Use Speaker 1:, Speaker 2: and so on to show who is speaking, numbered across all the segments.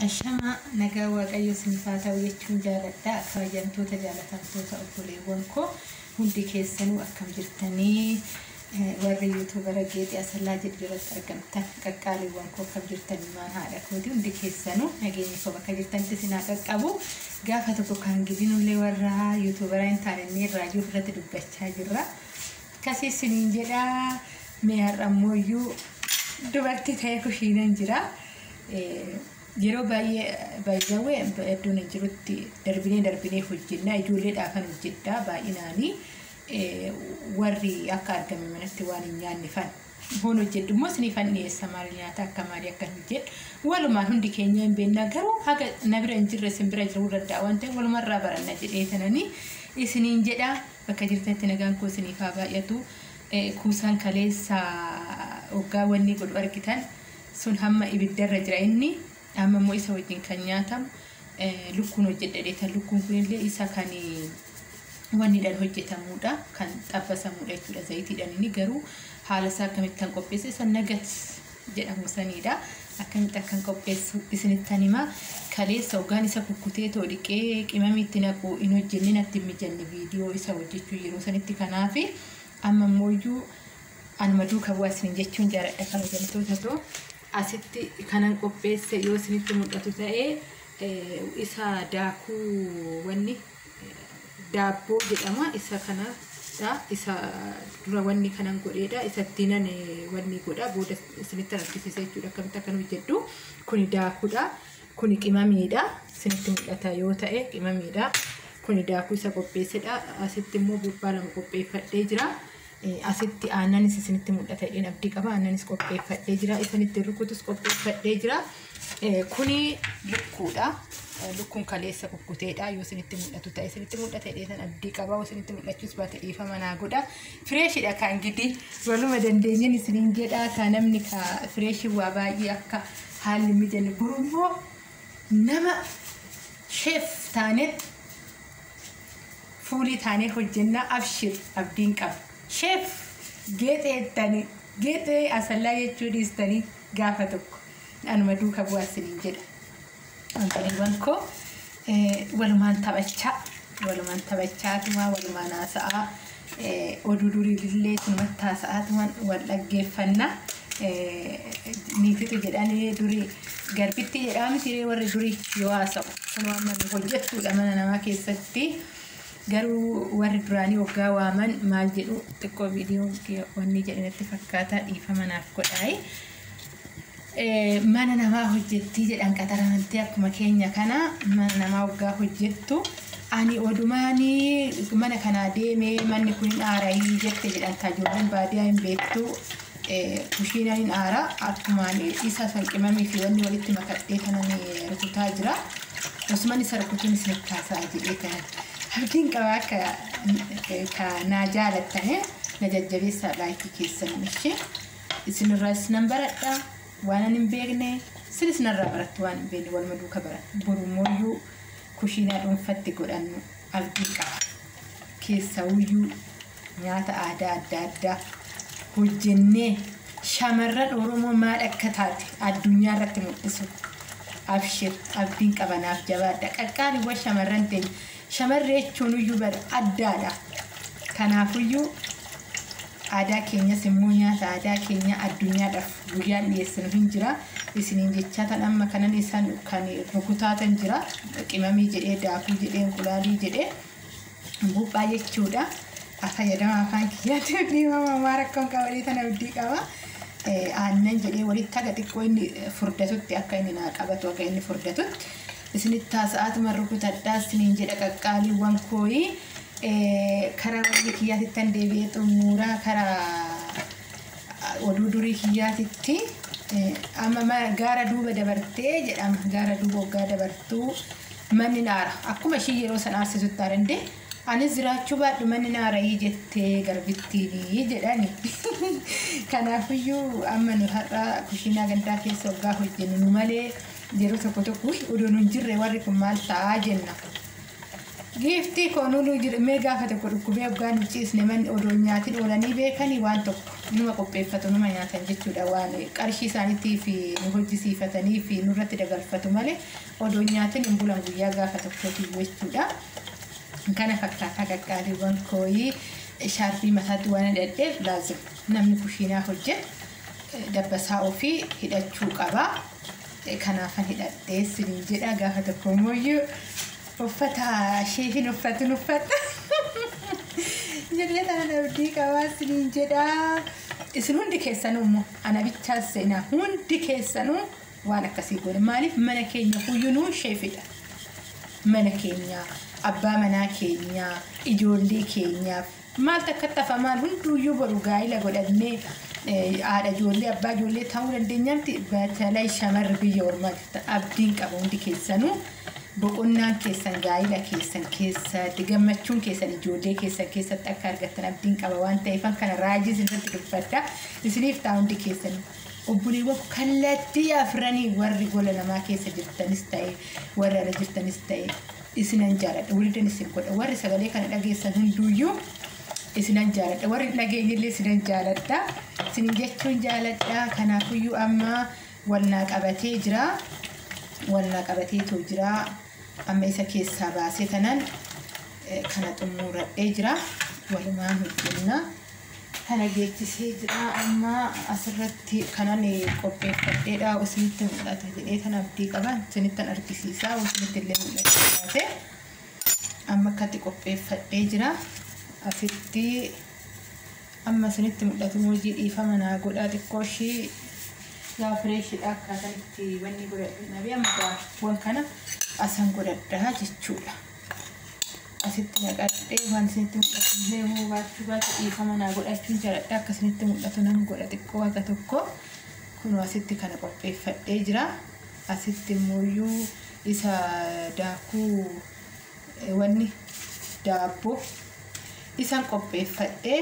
Speaker 1: Ashamaa nagaa waaqayyo isiniif haa ta'u jechuun jaaladha kabajamtoota jaalatamtoota obboleewwan koo hundi keessanuu akkam jirtanii eh, warri yuutuubara geexii asallaa jedhu jalatti argamtan qaqqaaliiwwan koo akkam jirtan ilmaan haadha kooti hundi keessanuu nageenyi koo bakka jirtanitti isin haa qaqqabu gaafa tokko kan gidinullee warra yuutuubara hin taane inni irraa jiru irratti dubbachaa jirra. Akkasii siniin jedha mee har'a immoo iyyuu dubartii ta'ee kushiinan jira. Yeroo baay'ee baay'ee iddoon hin jirutti darbinee darbinee hojjennaa ijoolleedhaa kan hojjedhaa baay'inaanii warri akka argame manatti waan hin nyaanne fan hoon hojjedhu immoo sinii fan dhiyeessa maal nyaata akka maalii akka hin hojjedhu walumaan hundi keenya hin beennaa garuu haga na bira hin jirre isin bira jiruu danda'a waan ta'eef walumarraa baranna jedhee tananii isiniin jedhaa. Bakka jirtanitti nagaan koo isiniif haa baay'atu. Kuusaan kaleessa oggaa wanni godhu argitan sun hamma ibiddarra jira inni amma immoo isa wajjin kan nyaatamu lukkuun hojjedhadheetan lukkuun kunillee isa kan wannidhaan hojjetamuudha kan xabbasamuudha jechuudha zayitiidhaan inni garuu haala isaa akkamittan qopheesse isa nagats jedhamu saniidha. Akkamitti akkan qopheessu isinittan hima. Kaleessa ogaan isa kukkutee too dhiqee qimamii itti naqu hin hojjenne natti hin mijanne viidiyoo isa hojjechuu yeroo sanitti kanaafi amma immoo iyyuu anuma duuka bu'aa isin jechuun jaaladha kabajamtoota too asitti kanan qopheesse yoo isinitti mul'atu ta'e eh, isa daakuu wanni daabboo jedhama isa kanadha isa dura wanni kanan godheedha isa dinan wanni godha booda isinitti argisiisa jechuudha akkamitti akkan hojjedhu kuni daakuudha kuni qimamiidha isinitti mul'ata yoo ta'e qimamiidha kuni daakuu isa qopheessedha asitti immoo buuphaa lama qopheeffadhee jira asitti aannanis isinitti mul'ata jedheen abdii qaba aannanis qopheeffadhee jira isinitti rukutus qopheeffadhee jira. Kuni lukkuudha. Lukkuun kaleessa kukkuteedha. Yoo isinitti mul'atu ta'e isinitti mul'ate dheetan abdii qaba. Yoo isinitti mul'achuus baate dhiifama naa godha. Fireeshidha kan gidi waluma dandeenyeen isiniin jedha. Kan namni ka fireeshii waa baay'ee akka haalli mijanne gurummoo nama sheef taanee fuulii taanee hojjennaa abshir abdiin qaba. Sheef geexee tani geexee asallaa jechuu dhiistanii gaafa tokko anuma duuka bu'aa isiniin jedha obboleewwan koo eh, walumaan taphachaa walumaan taphachaa tumaa walumaan haasa'aa eh, oduu durii illee tumatti haasa'aa tuman wal dhaggeeffannaa eh, niifitu jedhanii durii garbitti jedhaa mitiree warri durii yoo haasa'u kunoo amma nu hojjettuudha mana namaa keessatti Garuu warri duraanii oggaa waaman maal jedhu xiqqoo viidiyoo wanni jedhe natti fakkaata dhiifama naaf godhaayi. Eh, mana namaa hojjettii jedhan qaxaramtee akkuma keenya kana mana namaa oggaa hojjettu ani odumaani mana kanaa deemee manni kun hin aarayii jette jedhan kaa ijoolleen baadiyaa hin beektu Kushiina nin aara akkumaan isa san qimamii fi wanni walitti makadhee kanan rukutaa jira. Osuman isa rukutuun isinitti haasa'a jedhee kan abdiin qabaa akka ka naa jaalattane na jajjabeessaa laayikii keessan ishee isinirraas nan baradha waan ani hin beekne isinis narraa barattu waan hin beekne waluma duuka baranna borumooyyuu kushiinaa dhuunfatti godhannu abdiin qaba keessawuyyuu Nyaata aadaa adda addaa hojjennee shamarran Oromoo maal akka taate addunyaa irratti mul'isu. Abshir abdiin qaba naaf jabaadha. Qaqqaaliiwwan shamarran teenya. Shamarree jechuunuyyuu bar addaadha. Kanaafuyyuu aadaa keenyas immoo nyaata aadaa keenya addunyaadhaaf guyyaan dhiyeessinu hin jira. Isiniin jechaatan amma kanan isaan kan rukutaatan jira. Qimamii jedhee daakuu jedhee inqulaalii jedhee. Buuphaa jechuudha. Fayyadama afaan kiyyaatti dhiifamaa maa rakkoon qabalee tana abdii qaba. Aannan jedhee walitti haga xiqqoo inni furdatutti akka inni naa qabatu akka inni furdatutti isinitti taasa'aatuma rukutadhaa isiniin jedha qaqqaaliiwwan kooyi karaa walii kiyyaatti tan deebi'ee xumuraa karaa Oduu durii kiyyaatitti amma gaara duuba dabartee jedhama. Gaara duuba waggaa dabartuu manni naara. Akkuma ishii yeroo san aarsisutti aarande anis jiraachuu baadhu manni naarayii jettee garbittiinii jedhani. Kanaafiyyuu amma nu har'a kushiinaa gandaa keessa waggaa hojjennu nu malee yeroo tokko tokko odoo nu hin jirre warri kun maal ta'aa jenna. Giiftii koo nuluu jirmee gaafa tokko dhukkubee hoggaan hin ciisne manni odoo hin nyaatin oolanii beekanii waan tokko numa qopheeffatu numa nyaatan jechuudha waan qarshii isaaniitii fi nu hojjisiifatanii fi nurratti dabarfatu malee odoo hin nyaatin hin bulan guyyaa gaafa tokkootii jechuudha. Kana fakkaataa qaqqaaliiwwan kooyii shaarbii mataatti waan hidhadheef laazim namni kushiinaa hojjetu eh, dabbasaa ofii hidhachuu qaba. Kanaafan hidhadhe isiniin jedha gaafa tokko immoo uffata ishee hin uffatin uffata jedhee tanan abdii qabaa isiniin jedha isin hundi keessanuu immoo ana bichaa seenaa hundi keessanuu waan akkasii goone maaliif mana keenya huyyunuu sheefidha mana keenya abbaa manaa keenya ijoollee keenyaaf Maal takkatti hafa maal hunduuyyuu boru gaa'ila godhannee haadha ijoollee abbaa ijoollee ta'uu dandeenyaatti batalay shamarri biyya ormaa jirtan abdiin qaba hundi keessanuu boqonnaan keessan gaa'ila keessan keessatti gammachuun keessan ijoollee keessan keessatti akka argattan abdiin qaba waan ta'eefan kana raajii isinirratti dubbadha isiniif ta'a hundi keessan obboleewwan kallattii afranii warri gola namaa keessa jirtanis ta'e warra ala jirtanis ta'e isinan jaaladha walidan isin godha warri sagalee kana dhageessan hunduuyyuu isinan jaaladha warri hin dhageenyillee isinan jaaladha isin jechuun jaaladha kanaafuyyuu amma walnaa qabatee jira walnaa qabatee too jira amma isa keessaa baasee tanan eh, kana xumuradhee jira walumaan hojjennaa kana geechisee jira amma asirratti kanan qopheeffadheedha isinitti mul'ata jedhee tan abdii qaba isinittan argisiisaa isinitti illee mul'achuu baate amma akkatti qopheeffadhee jira asitti amma isinitti mul'atu moojii dhiifama naa godhaa xiqqoo ishii yaa fireeshidha akkaataan itti wanni godhadhu nabee amma daakkuwan kana asan godhadhaa jechuudha. asitti naqadhee waan isinitti mul'atu illee immoo baachuu baate dhiifama naa godhachuun jaaladha akka isinitti mul'atu nan godha xiqqoo haga tokko kunoo asitti kana qopheeffadhee jira asitti immoo iyyuu isa daakuu eh, wanni daabboo isan qopheeffadhee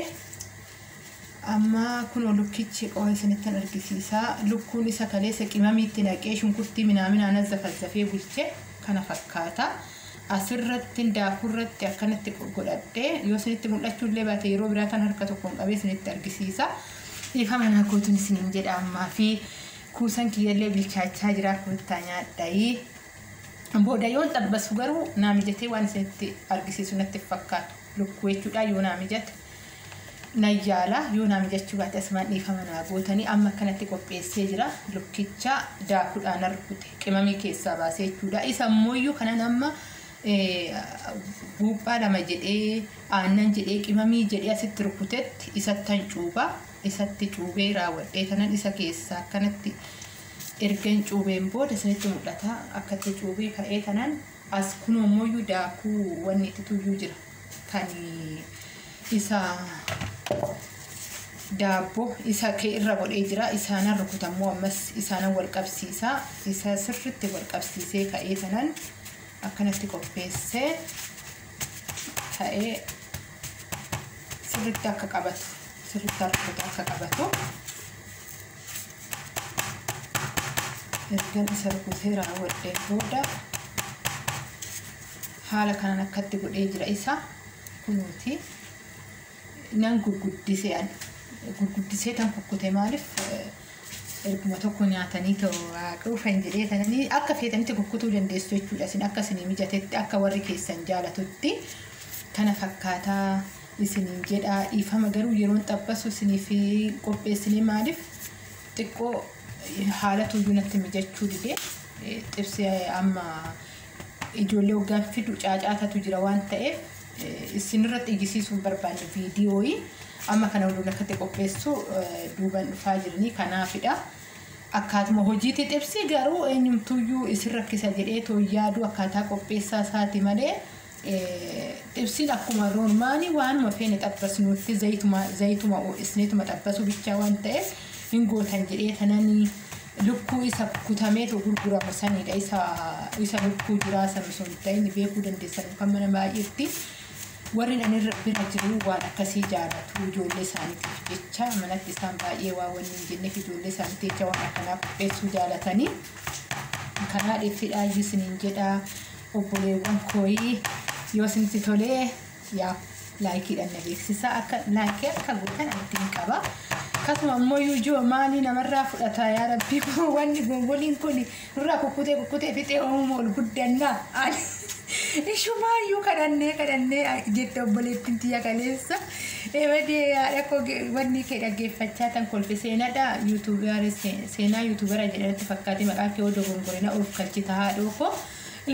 Speaker 1: Amma kunoo lukkichi qoma isinittan argisiisa. Lukkuun isa kaleessa qimamiitti naqee shunkurtii minaaminaan azzafazzafee bulche kana fakkaata. Asirrattin daakuurratti akkanatti godhadhe. Yoo isinitti mul'achuullee baate yeroo biraa tan harka tokkoon qabee isinitti argisiisa. Dhiifama naa gootuun isiniin jedha ammaa fi kuusan kiyyallee bilchaachaa jira koottaa nyaadhayi. Booda yoon xabbasu garuu naa mijatee waan isinitti argisiisu natti fakkaata. Lukkuu jechuudhaan yoo naa mijate. nan yaala yoo naa mijachuu baate asumaan dhiifama naa gootanii amma akkanatti qopheessee jira lukkicha daakuudhaan rukute qimamii keessaa baasee jechuudha isa immooyyuu kanan amma buuphaa lama jedhee aannan jedhee qimamii jedhee asitti rukutetti isattan cuubaa isatti cuubee raawwadhee kanan isa keessaa akkanatti ergan cuubeen booda isinitti mul'ata akkatti cuubee ka'ee kanan As kunoo immoo daakuu wanni itti tuyyuu jira. Kan isa daabboo isa kee irra godhee jira. Isaanan rukuta immoo ammas isaanan wal qabsiisa. Isa sirriitti wal qabsiisee ka'ee sanan akkanatti qopheessee ka'ee sirriitti akka qabatu sirriitti rukuta akka qabatu ergan isa rukutee raawwadhee booda haala kanaan akkatti godhee jira isa kunuuti nan gurguddisee an gurguddisee tan kukkute maaliif erguma tokko nyaatanii ta'u quufan jedhee tananii akka feetanitti kukkutuu dandeessu jechuudha isin akka isinii mijatetti akka warri keessan jaalatutti kana fakkaataa isiniin jedha dhiifama garuu yeroon xaphasu isiniif qopheessinee maaliif xiqqoo haala tuyyuu natti mijachuu dide xibsee amma ijoollee hoggaan fidu caacaatatu jira waan ta'eef isinirra xiyyisiisuun barbaanne viidiyooyi amma kana hunduun akkatti qopheessu duuban dhufaa jiranii kanaafidha. Akkaatuma hojiitti xibsii garuu eenyumtuyyuu isin rakkisa jedhee too yaaduu akkaataa qopheessaa isaati malee Xibsiin akkuma roormaanii waanuma feene xabbasnuutti zayituma zayituma ho'isneetuma xabbasuu bichaa waan ta'eef hin gootan jedhee tananii lukkuu isa kutameetu gurguramu sanidha isa isa lukkuu jiraa san osoo hin ta'in beekuu dandeessan kan mana baay'eetti warri nan irra bira jiru waan akkasii jaalatu ijoollee isaaniitiif jecha manatti isaan baay'ee waa wanni hin jenneef ijoollee isaaniitiif jecha waan akkanaa qopheessuu jaalatanii kanaa dhiittidhaa isiniin jedhaa obboleewwan kooyii yoo isinitti tolee yaa laayikiidhaan na beeksisaa akka laayikii akka gootan ittiin qaba akkasuma immoo yuujoo maalii namarraa fudhata yaa rabbii koo wanni gongoliin kun nurraa kukkutee kukkutee fixee uumuu ol guddannaa ani ishumaayyuu kadhannee kadhannee jette obboleettiin tiyya kaleessa ebadee haadha koo wanni kee dhaggeeffachaa tan kolfe seenadha yuutuubara seenaa yuutuubara jedhanatti fakkaatee maqaa kee odoo gongorina oofkalchita haadhoo koo.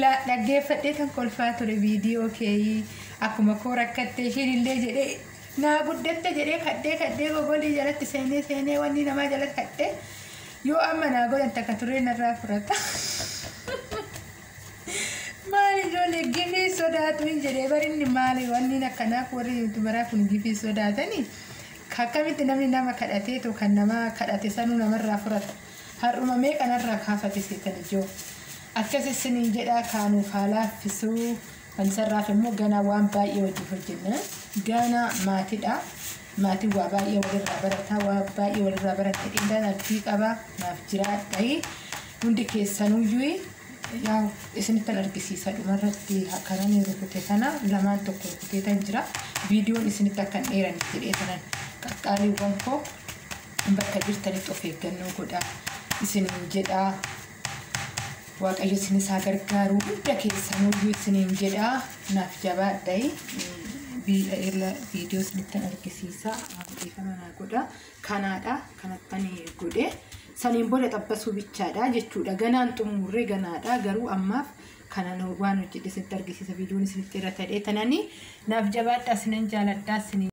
Speaker 1: La dhaggeeffadhee tan kolfaa ture viidiyoo keeyii akkuma koo rakkatte ishiin illee jedhee naa guddatte jedhee kadhee kadhee gogoolii jalatti seenee seenee wanni namaa jalatti kadhee yoo amma naa godhan takka turee narraa furata. Maali ijoollee gifii sodaatu hin jedhee barinni maali wanni akkanaaf warri yuutubaraa kun gifii sodaatanii akkamitti namni nama kadhatee too kan namaa kadhate sanuu namarraa furata. Har'uma meeqa narraa kaafate seexan ijoo. Akkas isiniin jedhaa kaa nuuf haa laaffisuu. Fansarraaf immoo ganaa waan baay'ee wajjin hojjenna. Gaana maatidha. Maatiin waa baay'ee walirraa barataa waa baay'ee walirraa baranna qindaan abdii qaba naaf jiraadhayi. Hundi keessanuyyuu yaa isinittan argisiisa dhumarratti akkanani rukute kana lamaan tokko rukuteetan jira. Viidiyoon isinitti akkan dheeran jedhee tanan qaqqaaliiwwan koo Bakka jirtanitti of eeggannoo godhaa isiniin jedhaa. Waaqayyo isinis haa gargaaru hunda keessanuyyuu isiniin jedhaa naaf jabaadhayi. Biidha viidiyoo isinittan argisiisa beekama naa godha. Kanaadha kanattan godhe. Saniin booda xabbasuu bichaadha jechuudha. Ganaan xumurree ganaadha garuu ammaaf kanan waan hojjedhe isinitti argisiisa viidiyoon isinitti irra ta'ee tananii naaf jabaadhaa isinan jaaladhaa isiniin.